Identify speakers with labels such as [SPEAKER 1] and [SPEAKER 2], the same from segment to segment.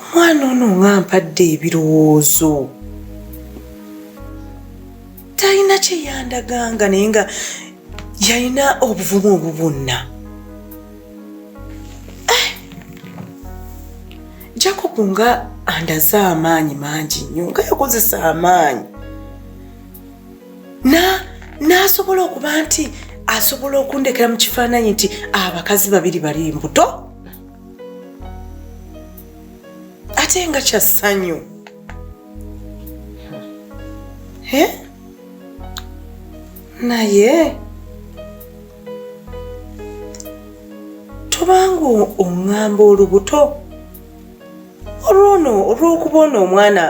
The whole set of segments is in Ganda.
[SPEAKER 1] omwana ono nga mpadde ebirowoozo talina kyeyandaganga naye nga yalina obuvumu obwo bwonna eh! jacob nga andaze amaanyi mangi nnyo nga yakozesa amaanyi n'asobola okuba nti asobola okundekera mu kifaananyi nti abakazi babiri bali mbuto ate nga kya ssanyu naye tobanga oŋŋamba olubuto olwono olw'okuba ono omwana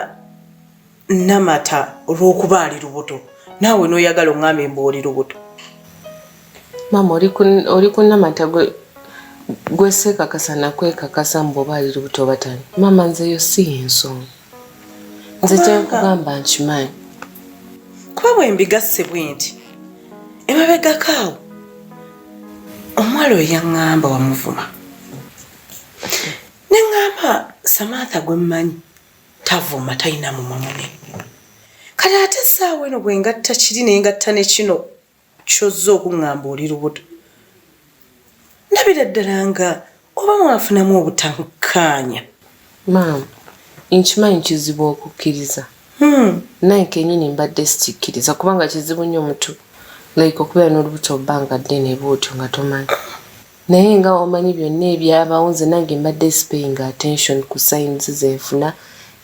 [SPEAKER 1] namata olwokuba ali lubuto naawe noyagala ongambye mbu oli lubuto
[SPEAKER 2] maama oli ku namata gwesekakasa nakwekakasa mbu oba ali lubuto batani maama nzeyo si yensonga nze kyenkugamba nkimanyi
[SPEAKER 1] kuba bwembigasse bwe nti emabegakaawo omuwala oyo yaŋŋamba wamuvuma ne ŋŋamba samantha gwe mmanyi tavuma talina mumwa munene kale ate essaawa eno bwe ngatta kiri naye ngatta ne kino kyozza okuŋŋamba oli lubuto ndabira ddala nga oba mwafunamu obutankaanya
[SPEAKER 2] maama nkimanyi kizibu okukkiriza hmm. naye kenyini mbadde sikikkiriza kubanga kizibu nnyo omutu like okubeera n'olubuto bbanga ddene bwotyo nga tomanyi Naye nga omanyi byonna ebyabawo nze nange mbadde sipeyinga attention ku signs zenfuna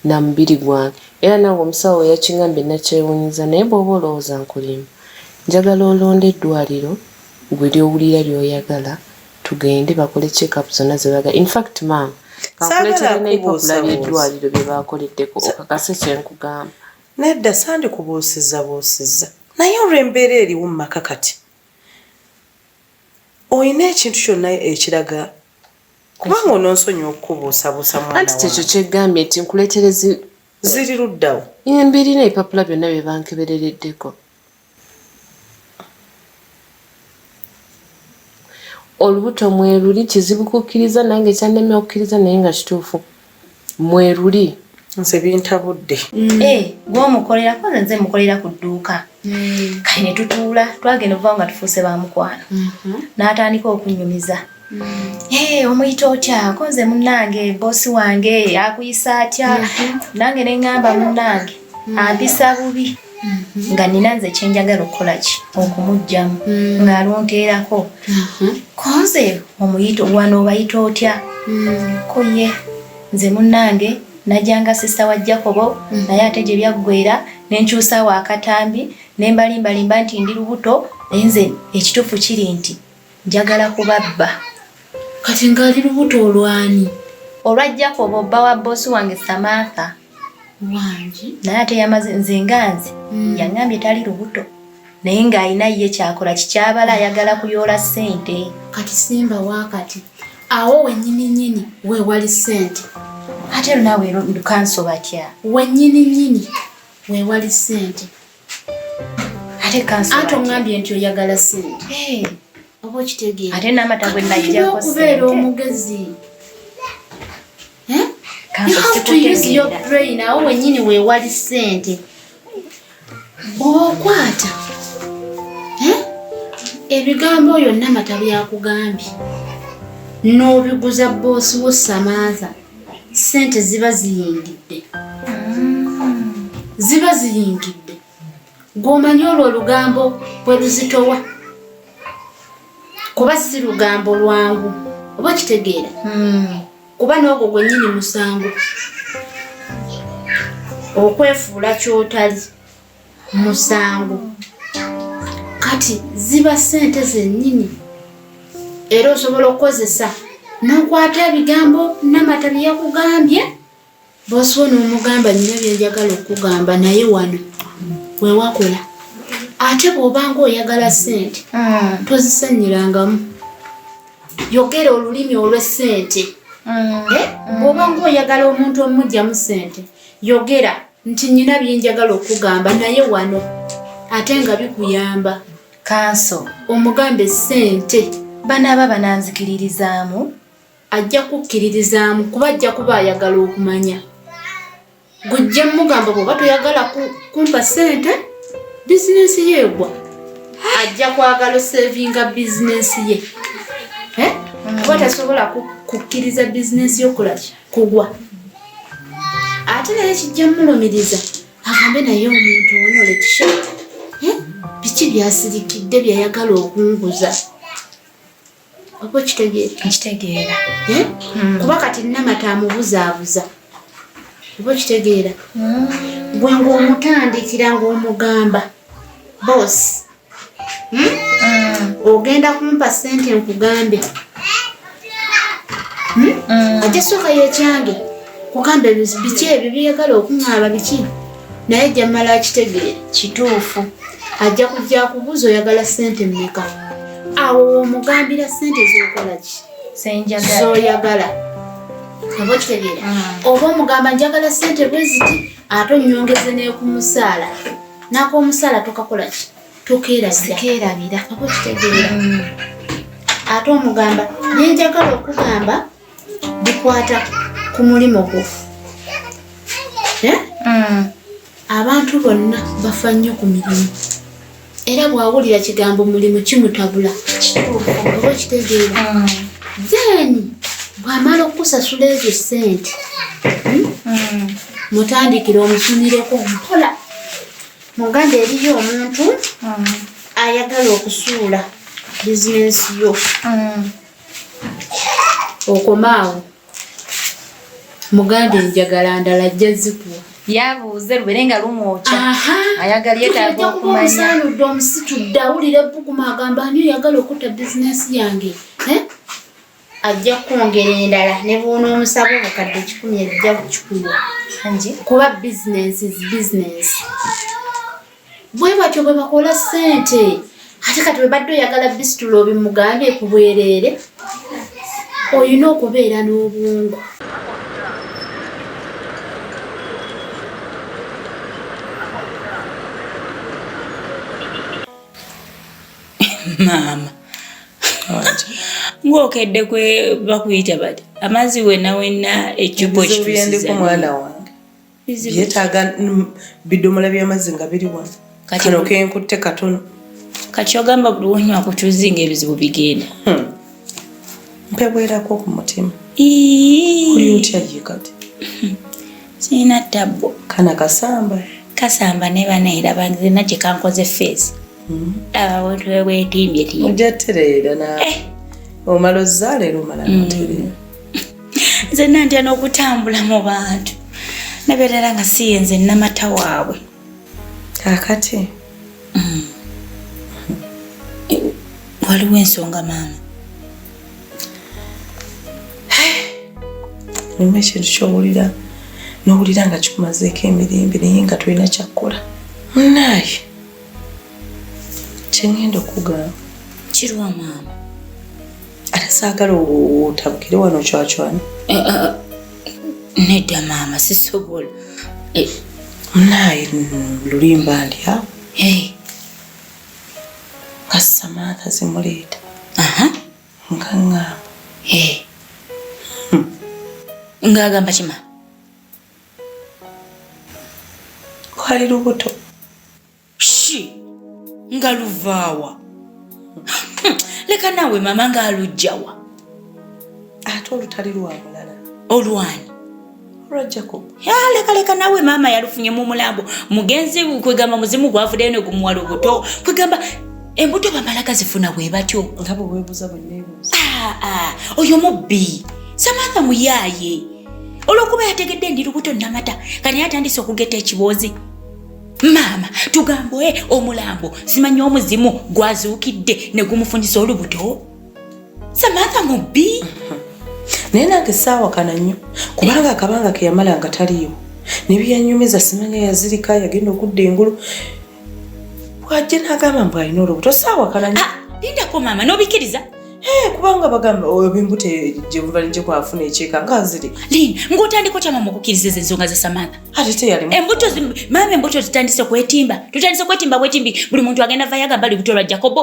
[SPEAKER 2] na mubiri gwange era nange omusawo weyakingambye nakyewunyiza naye bwoba olowooza nkulimba njagala olonde eddwaliro gwe lyowulira lyoyagala tugende bakole check up zonna zebagala infact maama kankuletere neipapula lyeddwaliro byebakoleddeko okakase kyenkugamba nedda sandi
[SPEAKER 1] kubuusiza buusiza naye olwembeera eriwo mumaka kati olina ekintu kyonna ekiraga kubanga ononsonyiwa okukubuusabuusa mwana wa ekyo kyegambye
[SPEAKER 2] nti nkuleterezi ziri
[SPEAKER 1] luddawo embiri n'ebipapula
[SPEAKER 2] byonna bye bankeberereddeko olubuto mweruli kizibu kukkiriza nange kyannemye okukkiriza naye nga kituufu mweruli nze
[SPEAKER 1] bintabudde mm. eh, gwomukolera
[SPEAKER 3] koza nze mukolera ku dduuka mm. kati ne tutuula twagenda okuva nga tufuuse ba mukwano mm-hmm. n'atandika okunyumiza mm. eh, omuyita otya ko nze munnange boosi wange akuyisa atya mm-hmm. nange ne ŋŋamba munnange ampisa bubi mhm. nga nina nze kyenjagala okukola ki okumugjamu mm. ngaalunteerako mhm. konze omuyito wana obayita otya mm. koye nze munange najanga sista wa jacobo mm. naye ate gye byaggwera nenkyusa wakatambi nembalimbalimba nti ndi lubuto naye nze ekituufu kiri nti njagala kubabba kati
[SPEAKER 4] ngaali lubuto olwani olwa jacobo
[SPEAKER 3] bba wa boosi wange samantha wangi
[SPEAKER 4] naye ate yamaze
[SPEAKER 3] nze nganzi mm. yangambye tali lubuto naye ng'alina ye kyakola kikyabala ayagala kuyoola ssente kati simba
[SPEAKER 4] wakati awo wenyini nyini wewali ssente ate lunawe
[SPEAKER 3] lukanso batya wenyini nyini
[SPEAKER 4] wewali ssente
[SPEAKER 3] ate kansa ate ongambye nti oyagala
[SPEAKER 4] sente oba okitegeera ate n'amata
[SPEAKER 3] gwe najjako
[SPEAKER 4] okubeera
[SPEAKER 3] omugezi nawe wenyini wewali sente okwata ebigambo oyo namata byakugambye n'obiguza boosi wo samaaza no sente ziba ziyingidde ziba ziyingidde gwomanyi olwo olugambo bwe luzitowa kuba si lugambo lwangu oba kitegeera hmm. kuba n'ogwo gwennyini musango okwefuula kyotali musango kati ziba sente zenyini era osobola okukozesa nokwata ebigambo namata byeyakugambye bosiwo nomugamba nyina byenjagala okugamba naye wano wewakola ate bwobanga oyagala sente mm. tozisanyirangamu yogera olulimi olwesente mm. eh? mm. bwobanga oyagala omuntu omujjamu sente yogera nti nina byenjagala okugamba naye wano ate nga bikuyamba kanso omugamba
[SPEAKER 4] esente banaaba
[SPEAKER 3] bananzikiririzaamu ajja
[SPEAKER 4] kukkiririzaamu kuba ajja kuba ayagala okumanya gujja mugamba bwoba toyagala kumpa sente bizinensi yeegwa ajja kwagala osevinga bizinensi ye eh? kuba tasobola kukkiriza bizinensi yokulakya kugwa ate naye kijja mulumiriza agambe naye omuntu ono letisha eh? biki byasirikidde byeyagala okunguza oba okitegeerakitegeera eh?
[SPEAKER 3] hmm. kuba
[SPEAKER 4] kati namata amubuzaabuza oba okitegeera hmm. gwe ngaomutandikira ngaomugamba bosi hmm? mm. ogenda kumpa sente nkugambe hmm? mm. ate soka yekyange kugamba biki ebyo byeyagala okuŋaaba biki naye jamala akitegeere kituufu
[SPEAKER 3] ajja kujja
[SPEAKER 4] kubuuza oyagala sente mmeka awo womugambira sente zokola ki
[SPEAKER 3] zoyagala
[SPEAKER 4] oba okitegeera mm. oba omugamba njagala sente bweziti ate onyongeze nekumusaala n'ak'omusaala tokakola ki tokeerabira aba okitegeera mm. ate omugamba naye njagala okugamba bikwata ku mulimu gwo eh? mm. abantu bonna bafa nnyo ku mirimu era bwawulira kigambo mulimu kimutabula oba okitegeera mm. then bwamala okukusasula ezo ssente hmm? mutandikire omusumireko mpola muganda eriyo omuntu mm. ayagala okusuula bizinensi yo mm. okomaawo muganda enjagala ndala ajja zikuwa yabuuze lubere
[SPEAKER 3] nga lumwokya ayagala yetaaga okumanyaanudde omusitudde
[SPEAKER 4] awulira ebbuguma agamba ani oyagala okutta bizinensi yange eh? ajja kukwongera endala ne bwonoomusaba obukadde kikumi ebijja kukikuwa kuba bizinensi is bizinensi bwe batyo bwe bakola ssente ate kati webadde oyagala bisitula obimugambye ku bwereere olina okubeera n'obwongo
[SPEAKER 5] maama ng'okedde kwe bakuyita bati amazzi wenna wenna ekibo kitusiza mwana
[SPEAKER 1] wange byetaaga bidomola by'amazzi nga biri wano kano kenkutte katono kati ogamba
[SPEAKER 5] buli wonywa kutuzi nga ebizibu bigenda hmm.
[SPEAKER 1] mpebwerako ku mutima oli otya ye kati
[SPEAKER 5] sirina tabbo kana kasamba
[SPEAKER 1] kasamba ne bana era
[SPEAKER 5] banzina gye kankoze feesi abantu bebwetimbye ti ojja tereera
[SPEAKER 1] na eh. omala ozzaala era omala mm. notereera
[SPEAKER 5] nze nantya n'okutambula mu bantu nabeerera nga siye nze namata waabwe kakati mm. waliwo ensonga maama
[SPEAKER 1] nima ekintu kyowulira nowulira nga kikumazeeko emirembe naye nga tulina kyakkola munaye kyengenda okugamba kirwa
[SPEAKER 5] maama
[SPEAKER 1] ate saagala otabukire wano cwacwana eh, eh, eh,
[SPEAKER 5] nedda maama sisobola
[SPEAKER 1] naye lulimba ndi awo nga samantha zimuleeta nga ngamba hmm.
[SPEAKER 5] ng'agamba kima
[SPEAKER 1] lwali lubuto
[SPEAKER 5] shi nga luvaawa hmm, leka naawe mama nga alujjawa
[SPEAKER 1] ate olutali lwa mulala olwani
[SPEAKER 5] olwa
[SPEAKER 1] jacob leka leka naawe
[SPEAKER 5] maama yalufunye mu mulambo mugenzi kwegamba muzimu gwavudeyo ne gumuwa lubuto kwegamba embuto bamala gazifuna bwe batyo nga bwe weebuuza bwe
[SPEAKER 1] neebuuza ah, ah, oyo
[SPEAKER 5] mubbi samantha muyaaye olwokuba yategedde ndi lubuto namata kati yatandise okugeta ekiboozi maama tugambo e eh, omulambo simanyi omuzimu gwazuukidde ne gumufunyisa olubuto samatha mubbi naye
[SPEAKER 1] nange saawakana nnyo kubanga akabanga keyamala nga taliyo ne byeyanyumiza simanya yazirika yagenda okudda engulu bwajja nagamba mbu alina olubuto saawakana nyo ah, lindako maama
[SPEAKER 5] nobikiriza eh, kubanga
[SPEAKER 1] bagamba oyo bimbuto gyebuva nijje kwafuna ekyeka nga nziri lin ngaotandika
[SPEAKER 5] otya maama okukiriza ezo ensonga za samaatha ate teyalimu embuto
[SPEAKER 1] maama embuto
[SPEAKER 5] zitandise kwetimba tutandise kwetimba bwetimbi buli muntu agenda vayo agamba lubuto lwa jakobo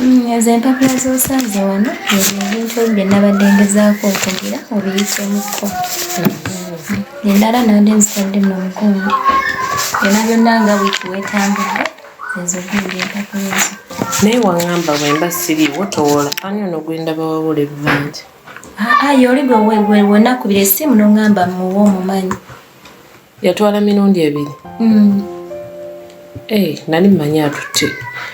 [SPEAKER 2] Mm, ezo empapula
[SPEAKER 3] z'osanze wano ebyo ebintu ebyo bye nabadde ngezaako okugira obiyisemukko endala nabadde nzitadde mu mugongo byona byonna nga wiiki wetambudde ezo gundi empapula ezo naye waŋamba
[SPEAKER 2] bwemba siriiwo towoola ani ono gwendaba wawula ebbanja aa ah, ah, yoli
[SPEAKER 3] gwe wenakubira essimu noŋamba muwa omumanyi yatwala
[SPEAKER 2] mirundi ebiri mm. hey, eh, nali mmanyi atutte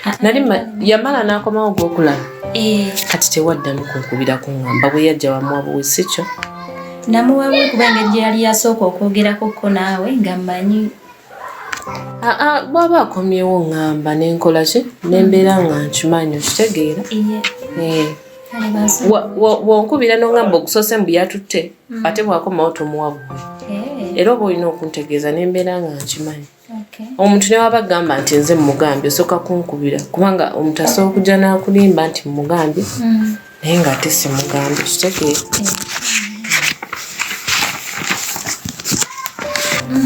[SPEAKER 2] ah, nali ah, ah. yamala n'akomawo gwokulala eh. kati tewaddamu kunkubira kuŋamba bwe yajja wamuwabuwe si kyo namuwabu
[SPEAKER 3] kuba engeri gye yali yasooka okwogerako ko naawe nga mmanyi aa bwaba
[SPEAKER 2] akomyewo ŋamba nenkola ki nembeera nga nkimanyi okitegeera eh. wonkubira noŋamba okusoose mbu yatutte mm. ate bwakomawo tomuwa buwe eh. era oba olina okuntegeeza nembeera nga nkimanyi omuntu newaba agamba nti nze mumugambye osooka kunkubira kubanga omuntu asobola okujja nakulimba nti mumugambye mm. naye nga ate simugambye kitegee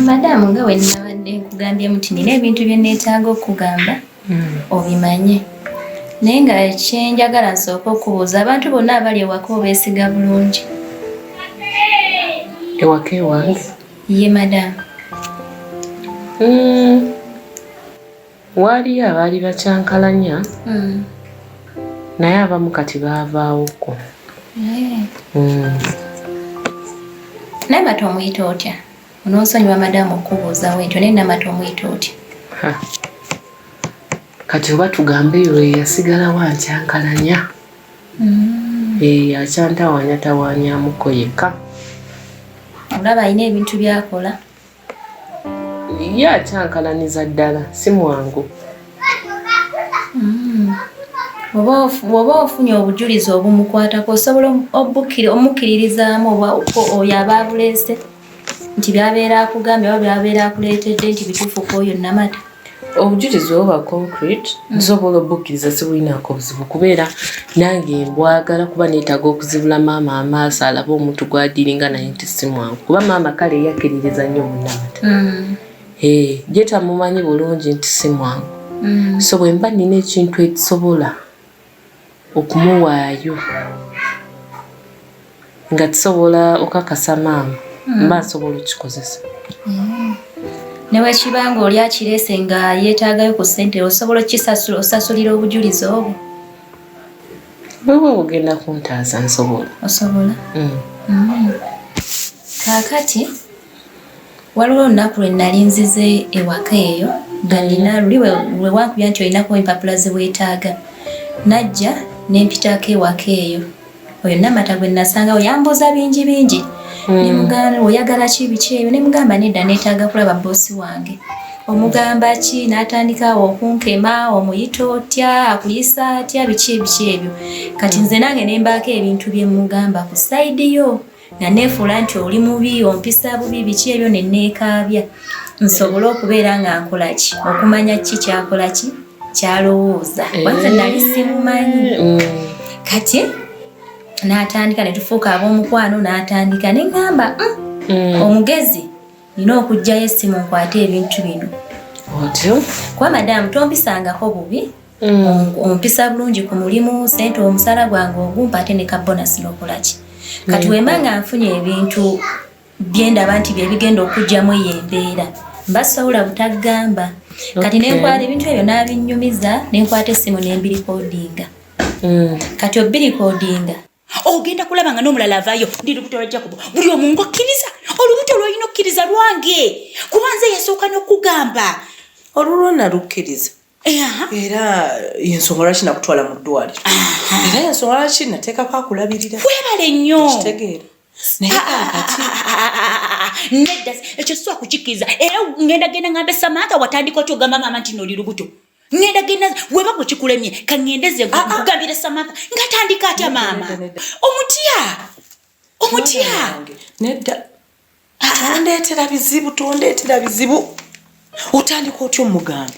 [SPEAKER 3] madamu nga wenabadde nkugambyemu ti nina ebintu byeneetaaga okugamba hmm. obimanye naye nga kyenjagala nsooka okubuuza abantu bonna abali ewaka obeesiga bulungi
[SPEAKER 2] ewaka ewange ye madamu
[SPEAKER 3] hmm.
[SPEAKER 2] waaliyo abaali bakyankalanya hmm. naye abamu kati baavaawokko eh.
[SPEAKER 3] naye bati omuyita otya Ononsonyiwa madamu okubuuzawo ekyo naye namata omuyita otya?
[SPEAKER 2] Kati oba tugambe eyo eyasigalawo ankyankalanya mm. eyo eh, akyantawanyatawanyamuko yekka.
[SPEAKER 3] Olaba alina ebintu byakola.
[SPEAKER 2] Ye akyankalaniza ddala si mwangu. Mm.
[SPEAKER 3] Bw'oba ofunye obujulizi obumukwatako osobola omukkiririzaamu oyo aba abuleese. nti byabeera akugambye oba byabeera akuleetedde nti bituufu ku oyo namata obujulizi
[SPEAKER 2] oba concrete mm. nsobola obukkiriza sibulinaako obuzibu kubeera nange mbwagala kuba neetaaga okuzibula maama amaaso alabe omuntu gwadiringa naye nti si mwangu kuba maama kale eyakkiririza nnyo munamata mm. gyetamumanyi bulungi nti si mwangu mm. so bwe mba nina ekintu ekisobola okumuwaayo nga tusobola okakasa maama mm. mba nsobola okikozesa mm.
[SPEAKER 3] newekiba nga oli akirese nga yetaagayo ku sente osobola okukisasula osasulira obujulizi obwo
[SPEAKER 2] bwebwe bugenda kuntaaza nsobola osobola mm.
[SPEAKER 3] kakati Waliwo olunaku lwe nnali nzize ewaka eyo nga nnina luli lwe wankubya nti olinako empapula ze weetaaga. Najja ne mpitako ewaka eyo. Oyo Namata gwe nasangawo yambuuza bingi bingi. Hmm. Ne mugamba oyagala ki biki ebyo ne mugamba nedda neetaaga kulaba bboosi wange. Omugamba ki n'atandika awo okunkema omuyita otya akuyisa atya biki ebiki ebyo. Kati nze nange ne mbaako ebintu bye mmugamba ku sayidi yo. nga neefuula nti oli mubi ompisa bubi biki ebyo ne neekaabya nsobole okubeera nga nkola ki okumanya ki kyakola ki kyalowooza kwanze eh. nali simumanyi mm. kati n'atandika ne tufuuka ab'omukwano n'atandika ne ŋŋamba mm, mm. omugezi nina okugjayo essimu nkwate ebintu bino
[SPEAKER 2] kuba madamu
[SPEAKER 3] tompisangako bubi mm. ompisa bulungi ku mulimu sente omusala gwange ogumpa ate ne kabonasi nokolaki kati mm. wemba nga nfunye ebintu byendaba nti byebigenda okugyamu eyo embeera mba sawula butagamba kati nenkwata ebintu ebyo nabinyumiza nenkwata essimu nembirikodinga mm. kati obirikodinga ogenda kulaba
[SPEAKER 5] nga n'omulala avaayo ndi lubuto lwa jakubu buli omu ngaokkiriza olubuto lwolina okkiriza lwange kuba nze yasooka n'okugamba olulwona
[SPEAKER 1] lukkiriza era yensonga lwaki nakutwala mu ddwaliro era yensonga lwaki nateekako akulabirira webale nnyo
[SPEAKER 5] kitegeera nedda ekyo siwa kukikkiriza era ngenda genda ngambe samantha watandika otyogamba maama nti nooli lubuto ngenda genda weba kukikulemye kangendeze ah, ah. kugambira samaka ngatandika atya maama omutya omutya
[SPEAKER 1] nedda ah, tondetera bizibu tondetera bizibu otandika otya omugamba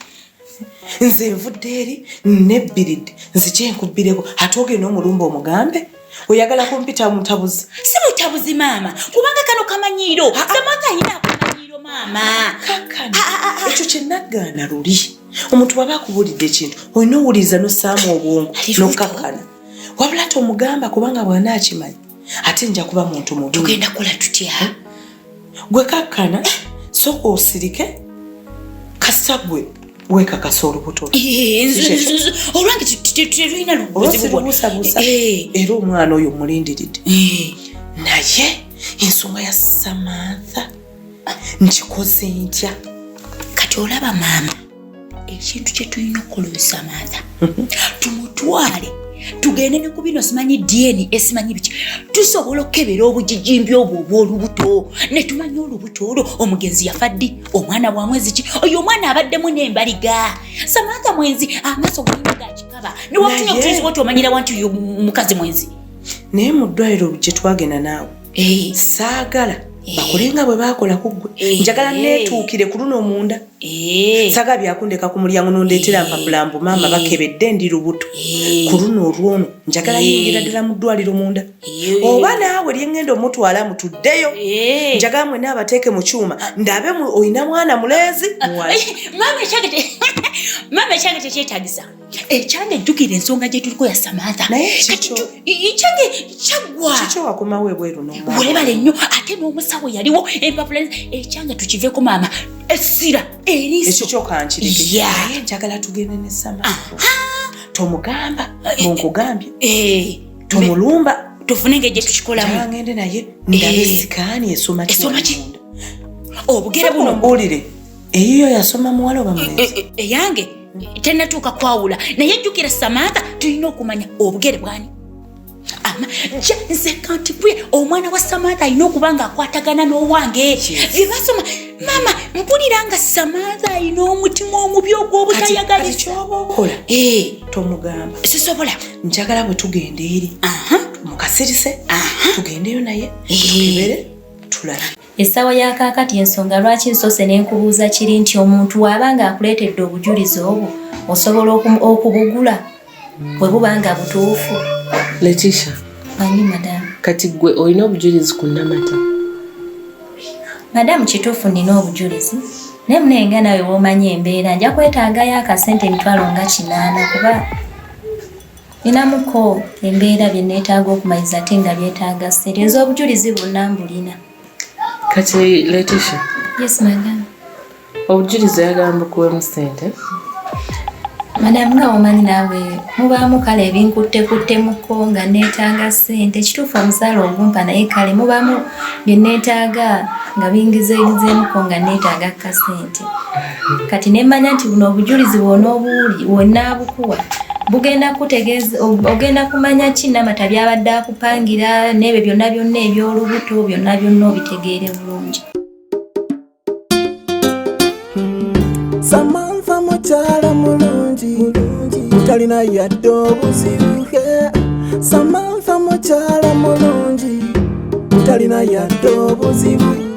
[SPEAKER 1] nze nvudde eri nebbiridde nzikyenkubbireko ate ogenda omulumba omugambe oyagala kumpita mutabuzi si mutabuzi
[SPEAKER 5] maama kubanga kano kamanyiiro samwakayina akamanyiiro maama kakano
[SPEAKER 1] ekyo kyenagaana luli omuntu waba akubulidde ekintu olina owuliriza nosaamu obwongo nokakkana wabula tomugamba kubanga bwana akimanyi ate nja kuba muntu mubi tugenda kola tutya
[SPEAKER 5] gwe
[SPEAKER 1] kakkana soka osirike kasita gwe wekakasa olubuto
[SPEAKER 5] olwange terulina lubuzibusabusa
[SPEAKER 1] era omwana oyo mulindiridde naye ensonga ya samantha nkikoze ntya kati
[SPEAKER 5] olaba maama ekintu kye tulina okukola oyo samaatha tumutwale tugende ne ku bino simanyi dna esimanyi biki tusobola okukebera obujijimbi obwo obw'olubuto ne tumanya olubuto olwo omugenzi yafa ddi omwana wa mwezi ki oyo omwana abaddemu n'embaliga samaatha mwenzi amaaso gayina gakikaba newatunya otuyiza otomanyira wanti oyo mukazi mwenzi naye mu
[SPEAKER 1] ddwaliro gye twagenda naawe eh. saagala eh. bakole nga bwe baakola ku ggwe eh. njagala neetuukire ku luno munda saagala byakundeka ku mulyango nondeetera mpapula mbu maama bakebedde ndi lubuto ku luno olwono njagala yingira ddala mu ddwaliro munda oba naawe lyengenda omutwala mutuddeyo njagala mwena abateeke mu kyuma ah. ndabe olina mwana mulenzi ah, maama
[SPEAKER 5] ekyange tekyetagisa ekyana ejjukira ensonga gye tuliko ya samantha ekyange kyaggwawakomawo ebweru
[SPEAKER 1] webale nnyo ate
[SPEAKER 5] n'omusawo yaliwo empapula ekyana tukiveeko maama essira erisokyokyankirikenjagala
[SPEAKER 1] tugende ne samantha tomugamba eh, munkugambye eh, eh, tomulumba tufune nga egye
[SPEAKER 5] tukikolamuangende naye
[SPEAKER 1] ndabe sikaani esoma esoma ki obugere
[SPEAKER 5] buno mbuulire
[SPEAKER 1] eyiyo yasoma muwala oba mulenzi eh, eh, eh, eyange
[SPEAKER 5] tenatuuka kwawula naye jjukira samantha tulina okumanya obugere bwani ama ja nze kantibwe omwana wa samantha alina okuba nga akwatagana n'owange byebasoma maama mpulira nga samantha alina omutima omubi ogw'obutayagala ekyoba okola
[SPEAKER 1] tomugamba sisobola
[SPEAKER 5] njagala bwe
[SPEAKER 1] tugenda eri mukasirise tugendeyo naye ebere tulabe Essaawa ya
[SPEAKER 3] kaakati ensonga lwaki nsoose ne nkubuuza kiri nti omuntu waaba ng'akuleetedde obujulizi obwo osobola okubugula bwe buba nga butuufu letisha
[SPEAKER 2] manyi
[SPEAKER 3] madamu kati ggwe olina
[SPEAKER 2] obujulizi ku namata madamu
[SPEAKER 3] kituufu nnina obujulizi naye munaye nga nawe womanyi embeera nja kwetaagayo akasente emitwalo nga kinaana kuba ninamuko embeera bye neetaaga okumaliriza ate nga byetaaga ssente ez'obujulizi bwonna mbulina kati
[SPEAKER 2] letisha yes madam
[SPEAKER 3] obujulizi
[SPEAKER 2] ayagala mbukuwemu ssente
[SPEAKER 3] madam nga omanyi naawe mubaamu kale ebinkuttekuttemu-ko nga neetaaga ssente kituufu omusaala ogumpa naye kale mubaamu bye neetaaga nga bingizeegizeemu-ko nga neetaaga kasente kati nemmanya nti buno obujulizi bwona obuwuli wonaabukuwa bugenda kutegeeza ogenda kumanya ki namata byabadde akupangira n'ebyo byonna byonna eby'olubuto byonna byonna obitegeere bulungi
[SPEAKER 6] samanfa mukyala mulungi talina yadde obuzibuke samanfa mukyala mulungi talina yadde obuzibu